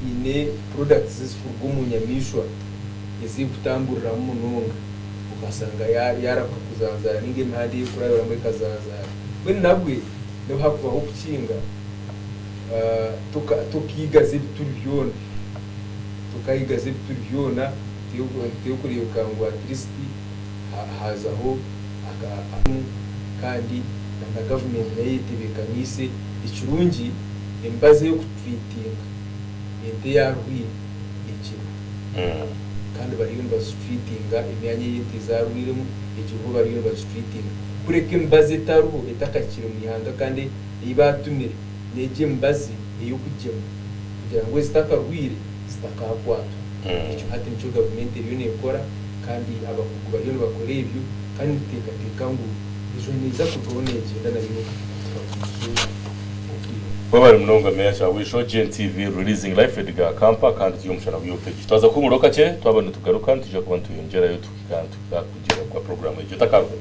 Haine products ezikuruga omu nyamaishwa ezirikutamburiramu munonga okashanga yaaramuka kuzanzaara ninga emihanda ei erikurabiramu ekazanzaara. Mbwenu nabwe n'obu hakubaho okukinga tokiigaza ebituri byona, tokayigaza ebituri byona, nituteera kureebeka ngu at least. Hazaho akamu kandi na gavumenti nayo eyetebekanise, ekirungi emibazi ey'okutwitinga ente yarwaire egirwe kandi bariyo nibazitwitinga, emyanya eyi ente zarwairemu egirwe bariyo nibagitwitinga kureka emibazi etariho etakahikire omu ihanga kandi eyi batumire. n'egyo emibazi ey'okugyema kugira ngu ezitakarwaire zitakakwatwa. Ekyo hati nikyo gavumenti eriyo nekora kandi abakugu bariyo nibakora ebyo kandi nituteekateeka ngu enjura neeza kurugaho negyenda nayo n'oku tikagume eizooba okwira. Webale munonga Meya Kyabwisho, GNTV releasing life at ga Kampa kandi turi omu mushana gwa Opeji. Twaza kuhumuraho kakye twaba nitugaruka nitwija kuba nitweyongyerayo tuhika nituhika kugira gwa program egyo etakarugaho.